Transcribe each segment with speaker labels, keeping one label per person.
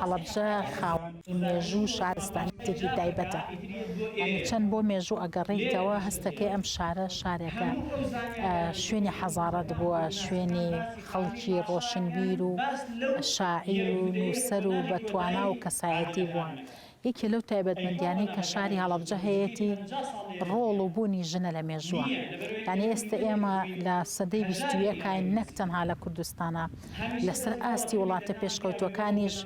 Speaker 1: هەڵەبجە خاوەنی مێژوو و شارستانیەتێکی تایبەتە یعنی چەند بۆ مێژوو ئەگەڕێیتەوە هەستەکەی ئەم شارە شارێکە شوێنی حەزارەت بووە شوێنی خەڵکی ڕۆشنبیر و شاعیر و نووسەر و بەتوانا و کەسایەتی بووە یەکێ لەو تایبەتمەندیانەی کە شاری هەڵەبجە هەیەتی ڕۆڵ و بوونی ژنە لە مێژووە یانی ئێستا ئێمە لە سەدەی بیستویەکاین نەک تەنها لە کوردستانە لەسەر ئاستی وڵاتە پێشکەوتوەکانیش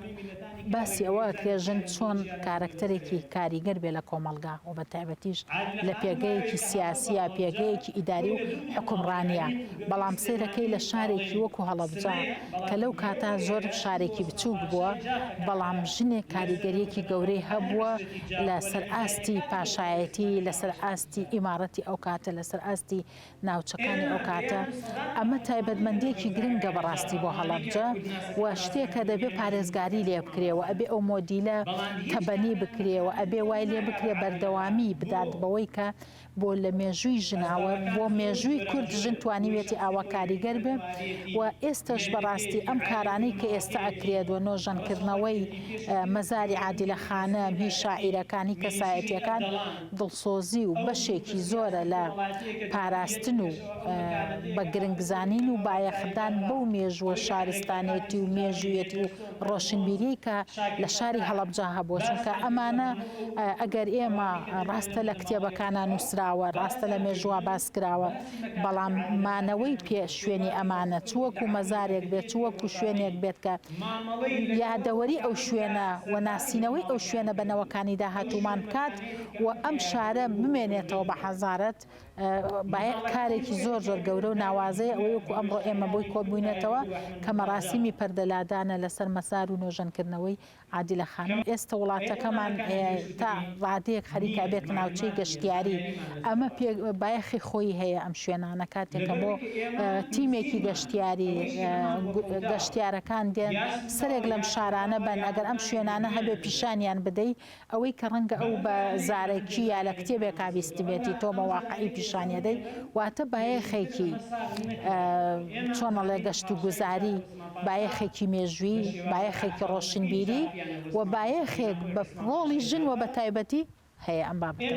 Speaker 1: باسی ئەوە کرێ ژن چۆن کارەکتەرێکی کاریگەر بێ لە کۆمەلگا و بە تایبەتیش لە پێگەیەکی سیاسیە پێگەیەکی ئیداری و حکومڕانە بەڵام سێرەکەی لە شارێکی وەکو هەڵەبجە کە لەو کاتە زۆر شارێکی بچووک بووە، بەڵام ژنێک کاریگەریەکی گەورەی هەبووە لە سەر ئاستی پاشایەتی، لە سەر ئاستی ئیماڕەتی ئەو کاتە، لە سەر ئاستی ناوچەکانی ئەو کاتە، ئەمە تایبەتمەندیەکی گرنگە بەڕاستی بۆ هەڵەبجە و شتێکە دەبێ پارێزگاری لێ بکرێ و ئەبێ ئەو مۆدیلە تەبەنی بکرێ و ئەبێ وای لێ بکرێ بەردەوامی بدات بەوەی کە بۆ لە مێژووی ژناوە بۆ مێژووی کورد ژن توانیوێتی ئاوا کاریگەر بێ و ئێستش بەڕاستی ئەم کارانەی کە ئێستا ئەکرێت و نۆژەنکردنەوەی مەزاری عادلە خانە هی شاعیرەکانی کەسایەتەکان دڵسۆزی و بەشێکی زۆرە لە پاراستن و بە گرنگزانین و بایەخدان بەو مێژووە شارستانێتی و مێژوویەتی و ڕۆشنبیریی کە لە شاری هەڵەبجە هەبووە، چونکە ئەمانە ئەگەر ئێمە ڕاستە لە کتێبەکانا نووسراوە، ڕاستە لە مێژووا باس کراوە، بەڵام مانەوەی پێ شوێنی ئەمانە چ وەکوو مەزارێک بێت، چ وەکوو شوێنێک بێت کە یادەوەریی ئەو شوێنە و ناسینەوەی ئەو شوێنە بە نەوەکانی داهاتوومان بکات و ئەم شارە بمێنێتەوە بە حەزارەت بایەخ کارێکی زۆر زۆر گەورە و ناوازەیە ئەوەی وەکو ئەمڕۆ ئێمە بۆی کۆببوینەتەوە کە مەراسیمی پەردە لادانە لەسەر مەزار و نۆژەن کردنەوەی عادیلە خانم ئێستە وڵاتەکەمان تا ڕادەیەک خەریکە بێتە ناوچەی گەشتیاری ئەمە پێ بایەخی خۆی هەیە ئەم شوێنانە کاتێکە بۆ تیمێکی گەشتیاری گەشتیارەکان دێن سەرێک لەم شارانە بەن ئەگەر ئەم شوێنانە هەبێ پیشانیان بدەی ئەوەی کە ڕەنگە ئەو بە زارەکی یا لە کتێبێکا بیستبێتی تۆ بە واقعی پیشانی ئەدەی واتە بایەخێکی چۆن ئەڵێ گەشت و گوزاری بایەخێکی مێژووی بایەخێکی ڕۆشنبیری و بایەخێک بە ڕۆڵی ژن و بە تایبەتی هەیە ئەم بابەتە.